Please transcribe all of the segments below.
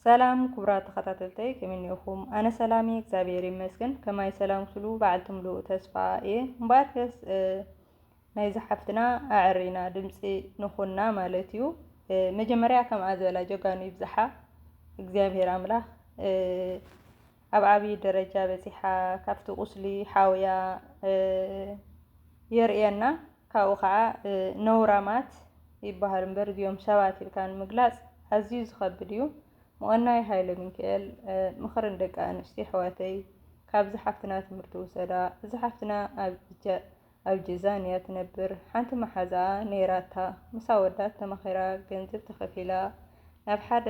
ሰላም ክቡራት ተኸታተልተይ ከመይ እኒኦኹም? ኣነ ሰላም እየ እግዚኣብሔር ይመስገን። ከማይ ሰላም ስሉ በዓልቲ ምሉእ ተስፋ እየ። እምበኣር ከስ ናይ ዝሓፍትና ኣዕሪና ድምፂ ንኹና ማለት እዩ። መጀመርያ ከምኣ ዝበላ ጀጋኑ ይብዝሓ እግዚኣብሔር ኣምላኽ ኣብ ዓብዪ ደረጃ በፂሓ ካብቲ ቁስሊ ሓውያ የርእየና። ካብኡ ከዓ ነውራማት ይበሃሉ እምበር እዚኦም ሰባት ኢልካ ንምግላፅ ኣዝዩ ዝኸብድ እዩ። ምቕናይ ሃይለ ሚካኤል ምኽሪ ንደቂ ኣንስትዮ ኣሕዋተይ ካብዚ ሓፍትና ትምህርቲ ውሰዳ እዚ ሓፍትና ኣብ ኣብ ጂዛን እያ ትነብር ሓንቲ ማሓዛኣ ነይራታ ምሳ ወዳት ተማኺራ ገንዝብ ተኸፊላ ናብ ሓደ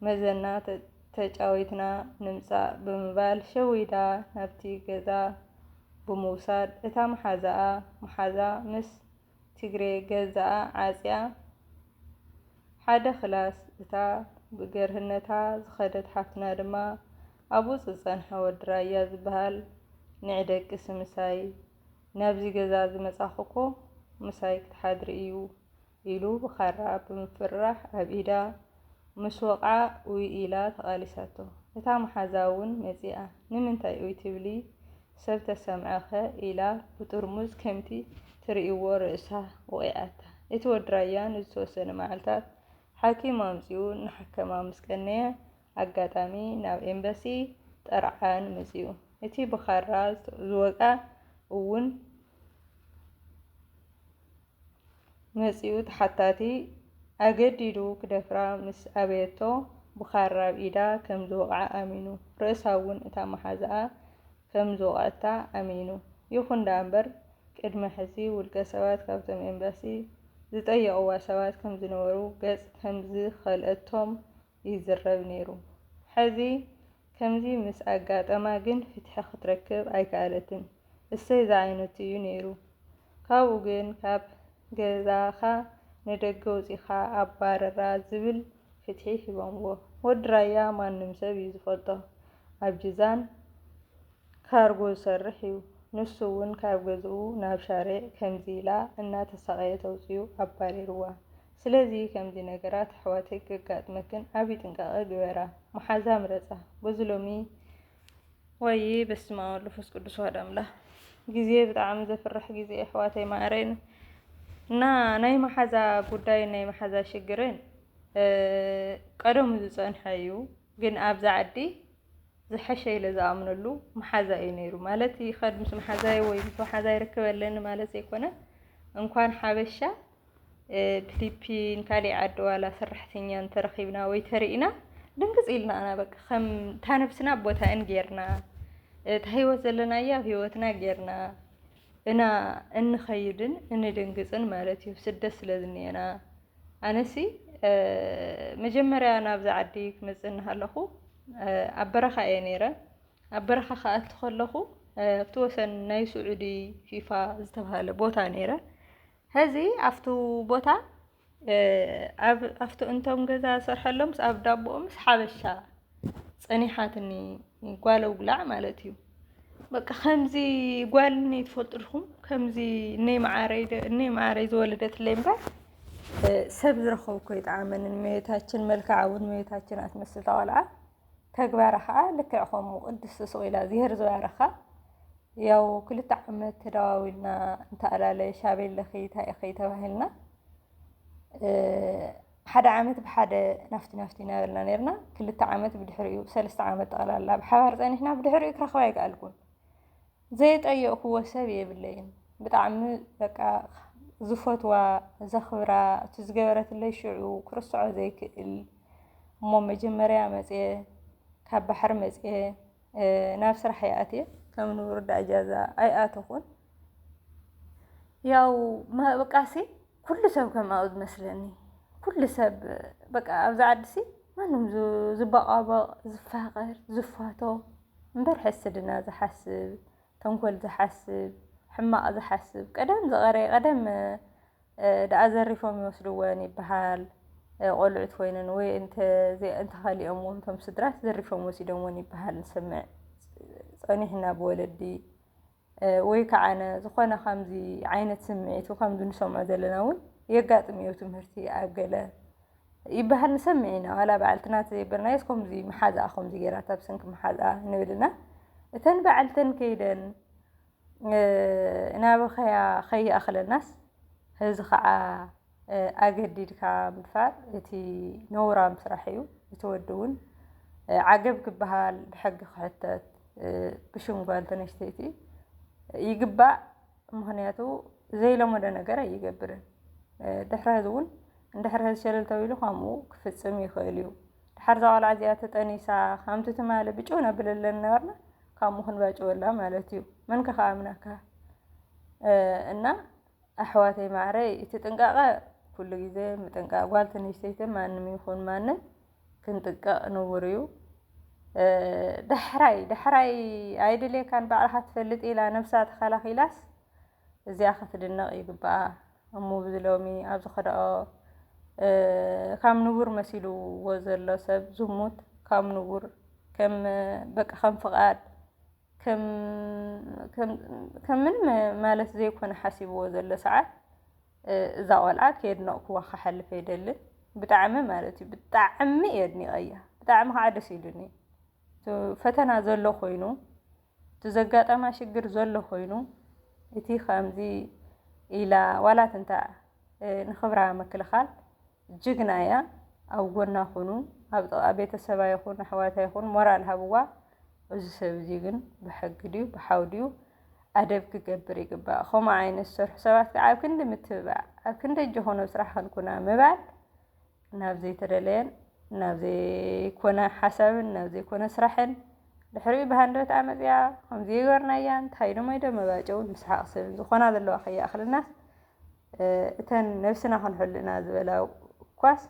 መዘና ተጫዊትና ንምፃእ ብምባል ሸዊዳ ናብቲ ገዛ ብምውሳድ እታ ማሓዛኣ ማሓዛ ምስ ትግሬ ገዛኣ ዓፅያ ሓደ ክላስ እታ ብገርህነታ ዝኸደት ሓፍትና ድማ ኣብኡ ዝጸንሐ ወዲ ራያ ዝበሃል ንዒ ደቅሲ ምሳይ ናብዚ ገዛ ዝመጻኹኮ ምሳይ ክትሓድሪ እዩ ኢሉ ብኻራ ብምፍርራሕ ኣብ ኢዳ ምስ ወቕዓ ኡይ ኢላ ተቓሊሳቶ። እታ መሓዛ እውን መጺኣ ንምንታይ ኡይ ትብሊ ሰብ ተሰምዐኸ ኢላ ብጥርሙዝ ከምቲ ትርእይዎ ርእሳ ወቒዓታ። እቲ ወዲ ራያ ንዝተወሰነ መዓልታት ሓኪም ኣምጺኡ እናሓከማ ምስ ቀነየ ኣጋጣሚ ናብ ኤምባሲ ጠርዓን መጺኡ። እቲ ብኻራ ዝወግኣ እውን። መጺኡ ተሓታቲ ኣገዲዱ ክደፍራ ምስ ኣበየቶ ብኻራ ኣብ ኢዳ ከም ዝወቕዓ ኣሚኑ። ርእሳ እውን እታ መሓዝኣ ከም ዝወቕዐታ ኣሚኑ። ይኹን ደኣ'ምበር ቅድሚ ሕዚ ውልቀ ሰባት ካብቶም ኤምባሲ ዝጠየቕዋ ሰባት ከም ዝነበሩ ገጽ ከም ዝኸልአቶም ይዝረብ ነይሩ። ሕዚ ከምዚ ምስ ኣጋጠማ ግን ፍትሒ ክትረክብ ኣይከኣለትን። እሰይ ዝዓይነቱ እዩ ነይሩ። ካብኡ ግን ካብ ገዛኻ ንደገ ኣውጺእኻ ኣባርራ ዝብል ፍትሒ ሂቦምዎ። ወዲ ራያ ማንም ሰብ እዩ ዝፈልጦ። ኣብ ጂዛን ካርጎ ዝሰርሕ እዩ። ንሱ'ውን ካብ ገዝኡ ናብ ሻርዕ ከምዚ ኢላ እናተሳቐየት ኣውጺኡ ኣባሪርዋ። ስለዚ ከምዚ ነገራት ኣሕዋተይ ከጋጥመክን ዓቢ ጥንቃቀ ግበራ መሓዛ ምረጻ በዚ ሎሚ ዋይይ በስመ ኣብ ወልድ መንፈስ ቅዱስ ዋህድ ኣምላክ ግዜ ብጣዕሚ ዘፍርሕ ግዜ ኣሕዋተይ ማዕረይን እና ናይ መሓዛ ጉዳይን ናይ መሓዛ ሽግርን ቀደሙ ዝፀንሐ እዩ። ግን ኣብዚ ዓዲ ዝሐሸ ኢለ ዝኣምነሉ መሓዛ እዩ ነይሩ ማለት ይኸድ ምስ መሓዛይ ወይ ምስ መሓዛይ ርክብ ኣለኒ ማለት ዘይኮነ እንኳን ሓበሻ ብፊሊፒን ካሊእ ዓዲ ዋላ ሰራሕተኛ እንተረኺብና ወይ ተሪእና ድንግፅ ኢልና ኢና በቃ ከም እታ ነብስና ኣብ ቦታኤን ጌርና እታ ሂወት ዘለናያ ኣብ ሂወትና ጌርና እና እንኸይድን እንድንግፅን ማለት እዩ ስደት ስለ ዝኒኤና ኣነሲ መጀመርያ ናብዛ ዓዲ ክመፅእ እናሃለኹ ኣብ በረኻ እየ ነይረ ኣብ በረኻ ክኣቱ ከለኹ ኣብቲ ወሰን ናይ ስዑዲ ፊፋ ዝተብሃለ ቦታ ነይረ ሀዚ ኣፍቱ ቦታ ኣፍቱ እንቶም ገዛ ዝሰርሐሎም ምስ ኣብ ዳቦኡ ምስ ሓበሻ ጸኒሓትኒ ጓለው ብላዕ ማለት እዩ በቃ ከምዚ ጓል እኔ ትፈልጥልኩም ከምዚ እኔ መዓረይ እኔ መዓረይ ዝወለደትለይ እምበር ሰብ ዝረኸብኩ ይጠዓመንን መቤታችን መልክዓ እውን መቤታችን ኣትመስል ተዋልዓ ተግባራ ከኣ ልክዕ ከምኡ ቅድስቲ ስቁኢላ እዝሄር ዝባረካ ያው ክልተ ዓመት ተደዋዊልና እንተኣላለ ሻቤለኺ ታይ ኢኺ ተባሂልና ሓደ ዓመት ብሓደ ናፍቲ ናፍቲ እናበልና ነርና ክልተ ዓመት ብድሕሪኡ ሰለስተ ዓመት ጠቕላላ ብሓባር ፀኒሕና ብድሕሪኡ ክረኽባ ኣይከኣልኩን ዘይጠየቅክዎ ሰብ የብለይን ብጣዕሚ በቃ ዝፈትዋ ዘኽብራ እቲ ዝገበረትለይ ሽዑ ክርስዖ ዘይክእል እሞ መጀመርያ መፅየ ካብ ባሕሪ መፅየ ናብ ስራሕ ይኣትየ ከም ንቡር ዳእጃዛ ኣይኣተኹን ያው ማእብቃሲ ኩሉ ሰብ ከምኣኡ ዝመስለኒ ኩሉ ሰብ በቃ ኣብዚ ዓዲሲ ማንም ዝባቋበቕ ዝፋቐር ዝፋቶ እምበር ሕስድና ዝሓስብ ተንኮል ዝሓስብ ሕማቕ ዝሓስብ ቀደም ዝቐረየ ቀደም ደኣ ዘሪፎም ይወስድወን ይበሃል ቆልዑት ኮይነን ወይ እንተኸሊኦም ውን ቶም ስድራት ዘሪፎም ወሲዶምወን ይበሃል ንሰምዕ ፀኒሕና ብወለዲ ወይ ከዓነ ዝኾነ ከምዚ ዓይነት ስምዒት ከምዚ ንሰምዖ ዘለና እውን የጋጥም እዩ ትምህርቲ ኣብ ገለ ይበሃል ንሰምዕ ኢና ዋላ በዓልትና ተዘይበልናዮስ ከምዚ መሓዝኣ ከምዚ ገይራታ ብሰንኪ መሓዝኣ ንብልና እተን በዓልተን ከይደን እናበኸያ ከይኣኽለናስ እዚ ከዓ ኣገዲድካ ምድፋር እቲ ነውራም ስራሕ እዩ። እቲ ወዲ እውን ዓገብ ክበሃል ብሕጊ ክሕተት ብሽም ጓል ተነስተይቲ ይግባእ። ምክንያቱ ዘይለመዶ ነገር ኣይገብርን። ድሕሪ ሕዚ እውን እንድሕር ሕዚ ሸለል ተቢሉ ከምኡ ክፍፅም ይኽእል እዩ። ድሓር እዛ ቆልዓ እዚኣ ተጠኒሳ ከምቲ ትማሊ ብጭው ነብለለን ነበርና ከምኡ ክንባጭወላ ማለት እዩ። መን ከ ክኣምነካ እና ኣሕዋተይ ማዓረይ እቲ ጥንቃቀ ኩሉ ግዜ ምጥንቃቅ ጓል ትንሽተይትን ማንም ይኹን ማንም ክንጥቀቅ ንቡር እዩ ዳሕራይ ዳሕራይ ኣይድልየካን ባዕልኻ ትፈልጥ ኢላ ነብሳ ተኸላኺላስ እዚኣ ክትድነቕ ይግብኣ እሙ ብዝሎሚ ኣብ ዝኸድኦ ካብ ንቡር መሲልዎ ዘሎ ሰብ ዝሙት ካብ ንቡር ከም በቃ ከም ፍቓድ ከም ምንም ማለት ዘይኮነ ሓሲብዎ ዘሎ ሰዓት እዛ ቆልዓ ከየድነቕክዋ ክሓልፍ ኣይደልን። ብጣዕሚ ማለት እዩ ብጣዕሚ እየ ኣድኒቐያ ብጣዕሚ ከዓ ደስ ኢሉኒ። ፈተና ዘሎ ኮይኑ እቲ ዘጋጠማ ሽግር ዘሎ ኮይኑ እቲ ከምዚ ኢላ ዋላ ትንታእ ንክብራ ምክልኻል ጅግና እያ ኣብ ጎና ኩኑ ኣብ ጥቃ ቤተሰባ ይኩን ኣሕዋታ ይኩን ሞራል ሃብዋ። እዚ ሰብ እዚ ግን ብሕጊ ድዩ ብሓው ድዩ ኣደብ ክገብር ይግባእ ከምኡ ዓይነት ዝሰርሑ ሰባት ከዓ ኣብ ክንዲ ምትብባዕ ኣብ ክንዲ እጆኹ ናብ ስራሕ ክንኩና ምባል ናብ ዘይተደለየን ናብ ዘይኮነ ሓሳብን ናብ ዘይኮነ ስራሕን ድሕሪኡ ብሃንደበት ኣመፅያ ከምዚ ይገርናያ እንታይ ኢሎም ኢዶ መባጨውን ምስሓቕ ሰብን ዝኾና ዘለዋ ከይኣኽልናስ እተን ነብስና ክንሕሉ ኢና ዝበላ እኳስ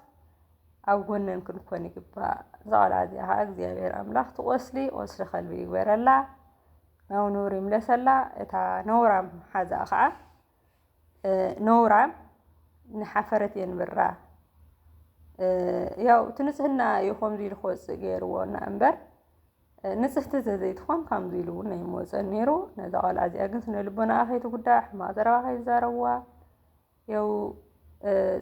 ኣብ ጎነን ክንኮን ይግባእ። እዛ ቆልዓ እዚኣ ከዓ እግዚኣብሔር ኣምላኽ ትቆስሊ ቆስሊ ከልቢ ይግበረላ፣ ናብ ንቡር ይምለሰላ። እታ ነውራም ሓዛ ከዓ ነውራም ንሓፈረት የንብራ። ያው እቲ ንጽህና እዩ ከምዚ ኢሉ ክወፅእ ገይርዎ እና እምበር ንጽህቲ ተዘይትኾን ከምዚ ኢሉ እውን ናይ ምወጸን ነይሩ ነዛ ቆልዓ እዚኣ ግን ስነ ልቦናኣ ከይትጉዳእ ሕማቕ ዘረባ ከይዛረብዋ የው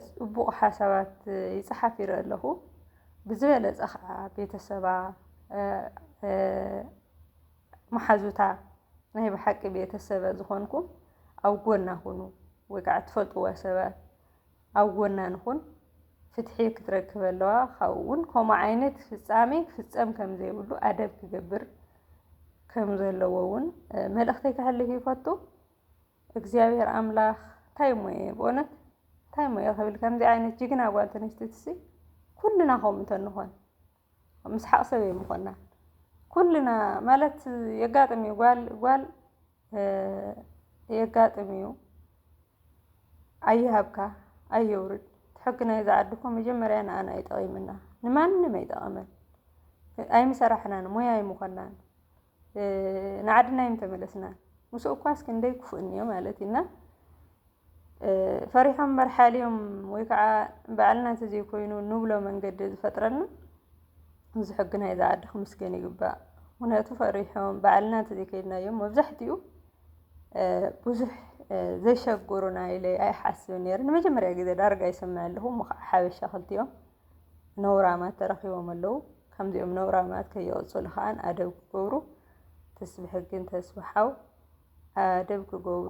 ጽቡቕ ሓሳባት ይጽሓፍ ይርኢ ኣለኹ ብዝበለጸ ከዓ ቤተሰባ መሓዙታ ናይ ብሓቂ ቤተሰበ ዝኾንኩም ኣብ ጎና ኩኑ ወይ ከዓ እትፈልጥዎ ሰባት ኣብ ጎና ንኹን ፍትሒ ክትረክብ ኣለዋ ካብኡ እውን ከምኡ ዓይነት ፍፃሜ ክፍፀም ከም ዘይብሉ ኣደብ ክገብር ከም ዘለዎ እውን መልእኽተይ ከሕልፍ ይፈቱ እግዚኣብሔር ኣምላኽ እንታይ እሞ እየ ብእውነት እንታይ እሞ እየ ክብል ከምዚ ዓይነት ጅግና ጓል ተነስተትሲ ኩልና ከምኡ እንተንኾን ምስሓቕ ሰብ ኣይምኾናን ኩልና ማለት የጋጥም እዩ ጓል ጓል የጋጥም እዩ ኣይሃብካ ኣየውርድ ሕጊ ናይዛ ዓዲ እኮ መጀመርያ ንኣና እዩ ጠቒምና ንማንም ኣይጠቐመን ኣይምሰራሕናን ሞያ ኣይምኾናን ንዓድና እዮም ተመለስና ምስኡ እኳስ ክንደይ ክፉእ እኒኦ ማለት እዩ እና ፈሪሖም መርሓልዮም ወይ ከዓ በዓልና እንተዘይኮይኑ ንብሎ መንገዲ ዝፈጥረልና እዚ ሕጊ ናይ ዝዓዲ ክምስገን ይግባእ ምክንያቱ ፈሪሖም በዓልና እንተዘይከይድናዮም መብዛሕትኡ ብዙሕ ዘይሸግሩና ኢለ ኣይሓስብን ነይረ ንመጀመርያ ግዜ ዳርጋ ይሰምዕ ኣለኹ እሞ ከዓ ሓበሻ ክልቲኦም ነውራማት ተረኺቦም ኣለዉ ከምዚኦም ነውራማት ከየቐፅሉ ከዓን ኣደብ ክገብሩ ትስቢ ሕግን ተስቢ ሓው ኣደብ ክገብሩ